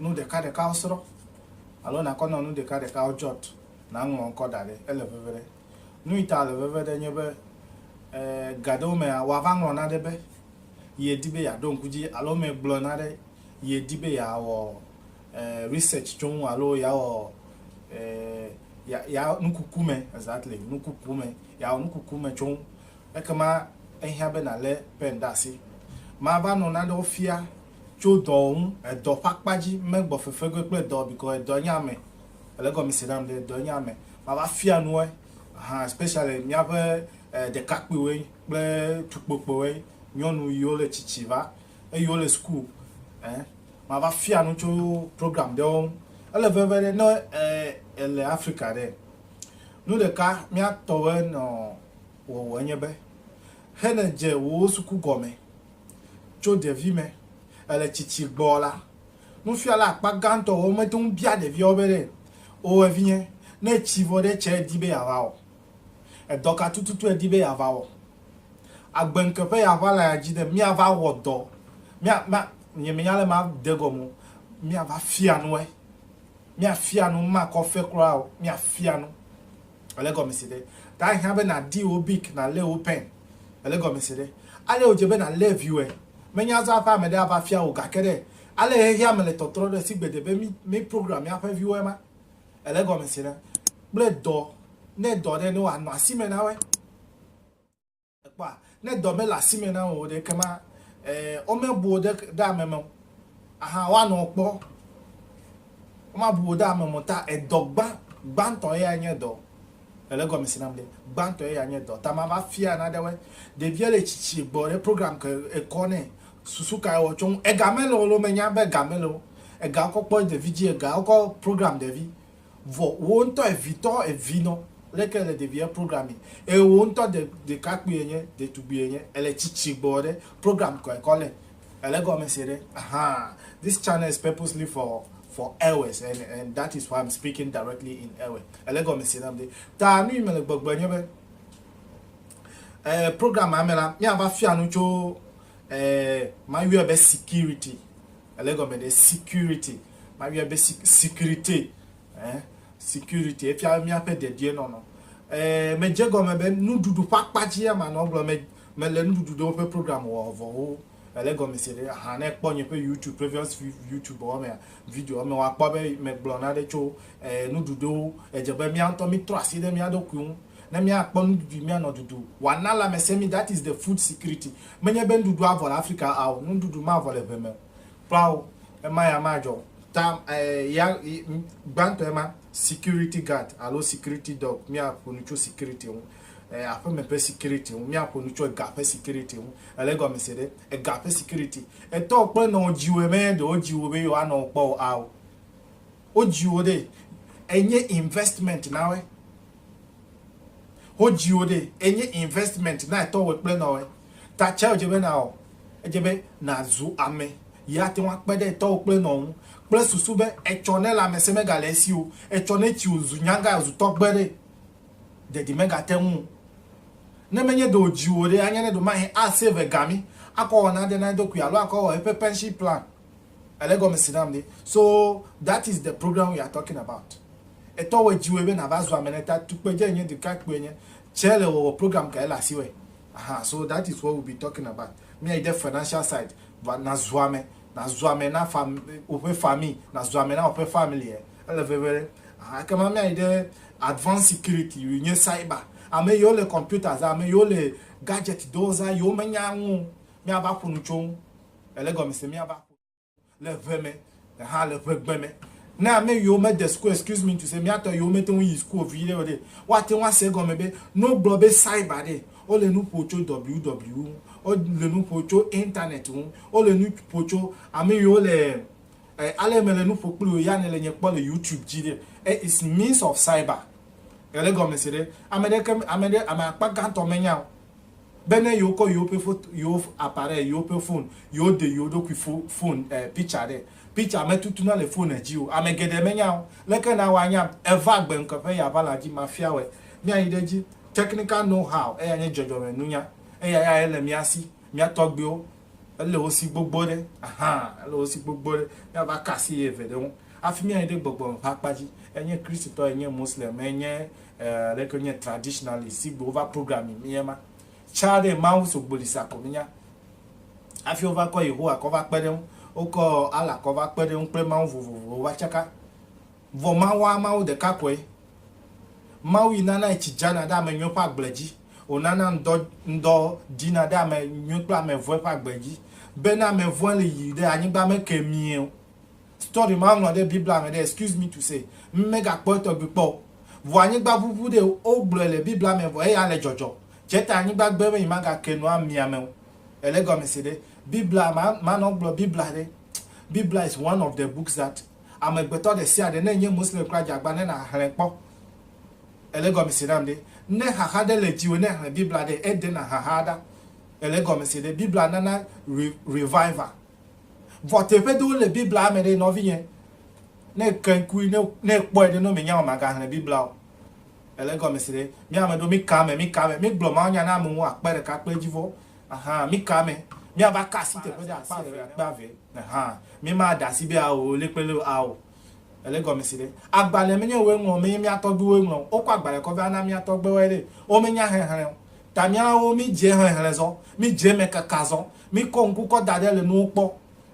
nu ɖekaɖekawo srɔ̃ alo nàkɔ nɔ nu ɖekaɖekawo jɔt nàŋlɔ ŋkɔ da ɖɛ. Ele veve ɖɛ. Nuyi ta ele veve ɖɛ nye be ga ɖewo mea, wòava ŋlɔ naɖe be ye di be yeaɖo ŋku dzi alo ame gblɔ naɖe ye di be yeawɔ research tso ŋu alo yeawɔ ya nukuku me exactly nukuku me yeawɔ nukuku me tso ŋu. Ekema ehiã be nàlé pɛn ɖe asi. Mava nɔ nanewo fia Tso dɔ ŋu, edɔ ƒe akpa dzi, megbɔ fefegoe kple dɔ because edɔ nye ame. Èle egɔmesi nam ɖe? Edɔ nye ame. Mava fia nu woe. Aha, especially míaƒe ɖekakpuiwoe kple tukpokpoewoe, nyɔnu yiwo le tsitsi va, eyiwo le school eh. Mava fia nu tso programme ɖewo ŋu. Ele veve ɖe, ne èle Afrika ɖe, nu ɖeka míatɔwoe nɔ wɔwɔ enye be, he ne dze wò suku gɔme. Tso ɖevime le tsitsi gbɔ la, nufiala akpa gãtɔ wɔ mete ŋu bia ɖeviawo be, O evinye, ne tsi vɔ ɖe tsɛ èdi be yeava wɔ? Edɔ ka tututu èdi be yeava wɔ? Agbeŋke ƒe ya ʋã le ya dzi ne míava wɔ dɔ, mía, mía, nyemenya ale ma de gɔme o, míava fia nue. Míafia nu, makɔ fe kura o, míafia nu. Ele gɔmesi ɖe? Ta hiã be nàdi wò bik, nàlé wò pɛn. Ele gɔmesi ɖe? Ale wòdze be nàlé viwòe. Menye azɔ aƒea me ɖe ava fia wò, gake ɖe ale xexeame le tɔtrɔ ɖo esi gbede be mí program míaƒe viwoe ma. Ele gɔmesi ɖe? Kple dɔ, ne dɔ ɖe ne wòanɔ asime na woe. Kpɔa, ne dɔ mele asi me na wò o ɖe, ekema ee, womebu wò ɖe, ɖe ame me o. Aha, woanɔ wò kpɔ. Womabu wò ɖe ame me o ta edɔ gbã, gbãtɔ eyae nye dɔ. Èle egɔme si nam ɖe? Gbãtɔ eyae nye dɔ. Ta mava fia naɖewoe. Ɖevia le tsitsi gbɔ ɖe program ke ekɔ nɛ. Susu kae wòwɔ tso ŋu? Ega mele o loo, menya be ega mele o. Ega wokɔ kpɔ ɖevi dzi, ega wokɔ program ɖevi. Vɔ wò ŋtɔ evitɔ evinɔ leke ele ɖeviɛ programme eye wò ŋtɔ de ɖekakpui enye ɖetugbui enye ele tsitsi gbɔ ɖe programme kɔɛkɔ le ele gɔme se ɖe ahaa this channel is purposely for for Ewes and and that is why I'm speaking directly in Ewe ele gɔme se nam ɖe ta nuyi mele gbɔgbe nye be eh, programme amela mia va fia nu tso eh, mayuɛ be security Ele egɔme ɖe security. Mayɔe be sec securite ɛ security efia míaƒe dedienɔnɔ. Ɛ medze egɔme be nuɖuɖu ƒe akpa dzie manɔ egblɔm me mele nuɖuɖu ɖewo ƒe program wɔvɔwo ele egɔme se ɖe ahan ne ekpɔ nye ƒe YouTube previous YouTube wɔ mea video me woakpɔ be megblɔ nane tso ɛ nuɖuɖuwo. Edze be mía ŋutɔ mítrɔ asi ɖe mía ɖokui ŋu Ne míakpɔ nuɖuɖui míanɔ ɖuɖu wana lãmesẽ mí, that is the food security. Menye be nuɖuɖu avɔ le Afrika ao, nuɖuɖu mavɔ le ʋe me kpla o. Ema ya madzɔ o. Ta ya gbãtɔe ma, security guard alo security dog, míaƒo nu tso security ŋu, aƒeme ƒe security ŋu, míaƒo nu tso ega ƒe security ŋu. Èle egɔme se ɖe? Ega ƒe security. Etɔwò kple enɔwò dziwòe menye ɖe wodzi wò be yewoanɔ wò kpɔ o ao. Wodziwò ɖe enye investment nawɔe. Wodziwò ɖe enye investment na etɔ wɔ kple nɔwɔe. Ta tsɛ wodze be nawɔ. Edze be nazu ame yi ate ŋu akpe ɖe etɔ wò kple nɔwò ŋu kple susu be etsɔ ne lãmesẽ megale esi o, etsɔ ne tsi wòzu nyagã wòzu tɔgbe ɖe dede megate ŋu o. Ne menye ɖe wodziwò ɖe anye ne ɖe mahe a save ega mi akɔ wɔ nane na eɖokui alo akɔ wɔ eƒe pension plan. Ele gɔme si nam ɖi. So that is the program we are talking about. Etɔ wɔ dziwɔe be nava zu ame ɖe ta. Tukpedze enye, ɖekakpui enye. Tsɛ le wɔwɔ program ka ele asi wɔe. Aha so that is what we be talking about. Mía yi ɖe financial side va na zu ame. Na zu ame na fam woƒe famille. Na zu ame na woƒe family e. Ele veve ɖe. Aha ekema mía yi ɖe advanced security yi nye cyber. Ame yiwo le computers, ame yiwo le gadget dɔwo zã yiwo me nya ŋu o. Mía va ƒo nu tso ŋu. Ele gɔmese miava ƒo nu le ʋe me hã le ʋegbe me. Ne ame yiwo mede sukua, excuse me to say, miatɔ yiwo mete ŋu yi sukua o viɖe o ɖe, woate ŋu ase egɔme be ne wogblɔ be cyber ɖe, wole nu ƒo tso WW ŋu, wole nu ƒo tso internet ŋu, wole nu ƒo tso ame yiwo le eh, ale mele nu ƒo kpli wò ya ne le nye kpɔ le YouTube dzi ɖe, eh, it's means of cyber. Ele gɔmese ɖe? Ame ɖeke, ame ɖe, ame akpa gãtɔ menya o. be ne yewo kɔ yewo ƒe foto, yewo appareil, yewo ƒe phone, yewo de yewo ɖokui fo, phone eh, picture ɖe. Picture me tutuna le phone dzi o. Ame geɖe menya o. Leke na woa nyam? Eva gbe ŋke ƒe ya va la dzi ma fia wɔe. Mía yi ɖe edzi. Technical know how, eya nye dzɔdzɔme nunya. Eya ya ye le mía si. Mía tɔgbuiwo, ele wo si gbogbo ɖe. Ahaa, ele wo si gbogbo ɖe. Mía va ka asi ye eve ɖe ŋu. Hafi mía yi ɖe gbɔgbɔ me ƒe akpa dzi. Enye Kristotɔ, enye Muslim, enye Eh leke wo nye traditionalist sigbe wo va programming mi ema. Tsã ɖe Mawu so gboli sa ko mi nya. Afi wo va kɔ Yehowa kɔ va kpe ɖe ŋu, wo kɔ Allah kɔ va kpe ɖe ŋu kple Mawu vovovo wo va tsaka. Vɔ Mawua Mawu ɖeka koe. Mawu yi nana etsi dzana ɖe ame nyuiwo ƒe agble dzi. Wo nana ŋdɔ ŋdɔ ɖina ɖe ame nyuiwo kple ame vɔ̃e ƒe agble dzi. Be ne ame vɔ̃e le yiyi ɖe anyigba me ke mie o. Story ma ŋlɔ ɖe Biblia me ɖe, excuse me to say, m megakpɔe tɔgbi kpɔ o. Vɔ anyigba ʋuʋu ɖe wo gblɔe le Biblia me vɔ eya le dzɔdzɔ. Tse ta anyigba gbe be yi ma ga ke nu ami ame o. Ele gɔme se ɖe? Biblia ma ma nɔ gblɔ Biblia ɖe. Biblia is one of the books that ame gbetɔ ɖe sia ɖe ne enye Muslim kura dze agba ne na hle kpɔ. Ele gɔme se nam ɖe? Ne xaxa ɖe le dziwò ne hle Biblia ɖe, e de na xaxa ɖa. Ele gɔme se ɖe? Biblia nana re revival. Vɔ teƒe ɖewo le Biblia me ɖe, nɔvinye, ne èke ŋkui, ne, ne èkpɔe ɖe, ne womenya be màgaxlẽ Biblia o, èlé gɔmesi ɖe. Mí ame ɖewo, míka ame, míka ame. Mígblɔ mawunya na amewo akpe ɖeka, akpe dzi vɔ. Ahan, míka ame. Míava ka asi teƒe ɖe akpe eve, akpe eve. Ahan, mímaɖe asi be ao, lé kple lé o, ao. Ele egɔme si ɖe. Agbalẽ menye wòe ŋlɔ, menye mía tɔgbuiwoe ŋlɔ o. Wokɔ agbalẽ kɔ va na mía tɔgbuiwoe ɖe. Womenya xexlẽ o. Ta míawo míedze xexlẽ zɔ. Míedze eme keka zɔ. Míkɔ ŋku kɔ da ɖe le nuwo kpɔ.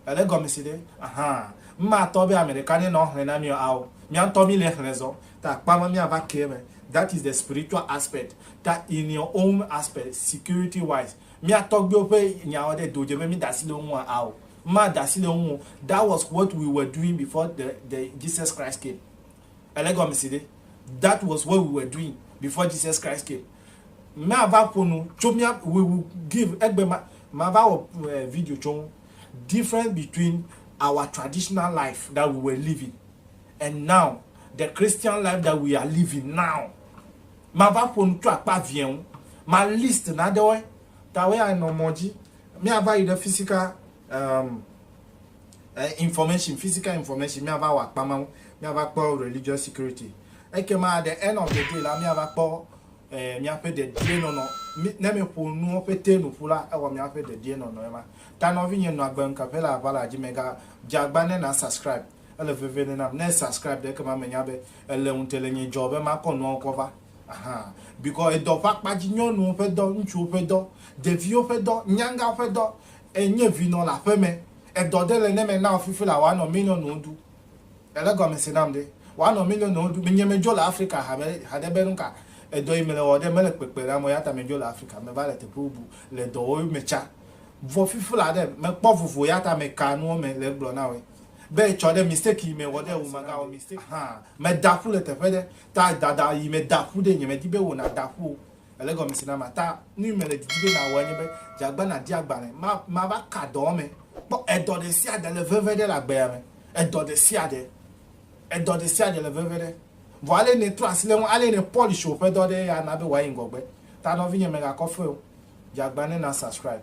Ele egɔme si ɖe. Ahan. Matɔ be ame ɖeka ne nɔ xlẽ na mí o. Ao. Mía ŋutɔ míle xlẽ zɔ. Ta akpa ma míava ke eme. That is the spiritual aspect. Ta in your own aspect, security wise, mía tɔgbuiwo ƒe nyawo ɖe do dze be míeda asi le wo ŋua? Ao. Mada asi le eŋu o. That was what we were doing before the the Jesus Christ came. Ele gɔme si ɖe. That was what we were doing before Jesus Christ came. Mava ƒo nu tso mía we will give egbe ma mava wɔ eh, video tso ŋu. Difference between our traditional life that we were living and now the Christian life that we are living now. Mava ƒo nu tso akpa vie ŋu. Ma list naɖewoe. Tawe anɔ mɔ dzi. Míava yi ɖe physical um, eh, information, physical information, míava wɔ akpa ma ŋu, míava kpɔ religious security. Ekema at the end of the day la, míava kpɔ eh, míaƒe dedienɔnɔ. Mi- Ne míeƒo nuwo ƒete nu ƒu la, ewɔ míaƒe dedienɔnɔ ema. Ta nɔvinye nɔ agbe ŋkeƒe le aʋa la dzi, mègadze agba ne na subscribe. Ele veve ne nam ne e subscribe ɖe ekema me nya be ele ŋute le nye dzɔ be ma kɔ nuawo kɔ va ahan because edɔ ƒe akpa dzi nyɔnuwo ƒe dɔ ŋutsuwo ƒe dɔ ɖeviwo ƒe dɔ nyangawo ƒe dɔ e nye vi nɔ le aƒe me edɔ ɖe le ne me na fifi la wa nɔ million wo ɖu ele gɔme se nam ɖe wa nɔ million wo ɖu nye me dzo le Africa ha be ha ɖe be nu ka edɔ yi me le wɔ ɖe me le kpekpe na mo ya ta me dzo le Africa me va le teƒe bubu le dɔ wo me tsa vɔ fifi la ɖe me kpɔ vovo ya ta me ka nuwo me le gblɔ na wo be etsɔ ɖe mistake yi me wɔ ɖe wo maga wɔ mistake hã me da ƒu le teƒe ɖe ta dada yi me da ƒu ɖe nye me di be wo na da ƒu o ele gɔme si na ma ta nu me le didi be na wɔ nye be jagba na di agbale ma ma va ka dɔ me kpɔ edɔ de si ada le veve ɖe la gbea me edɔ de si ada edɔ de si ada le veve ɖe vɔ ale ne tro asi le ŋu ale ne polish o ƒe dɔ ɖe ya na be wa yi ŋgɔgbe ta nɔ vi nye me ga kɔfɛ o jagba ne na subscribe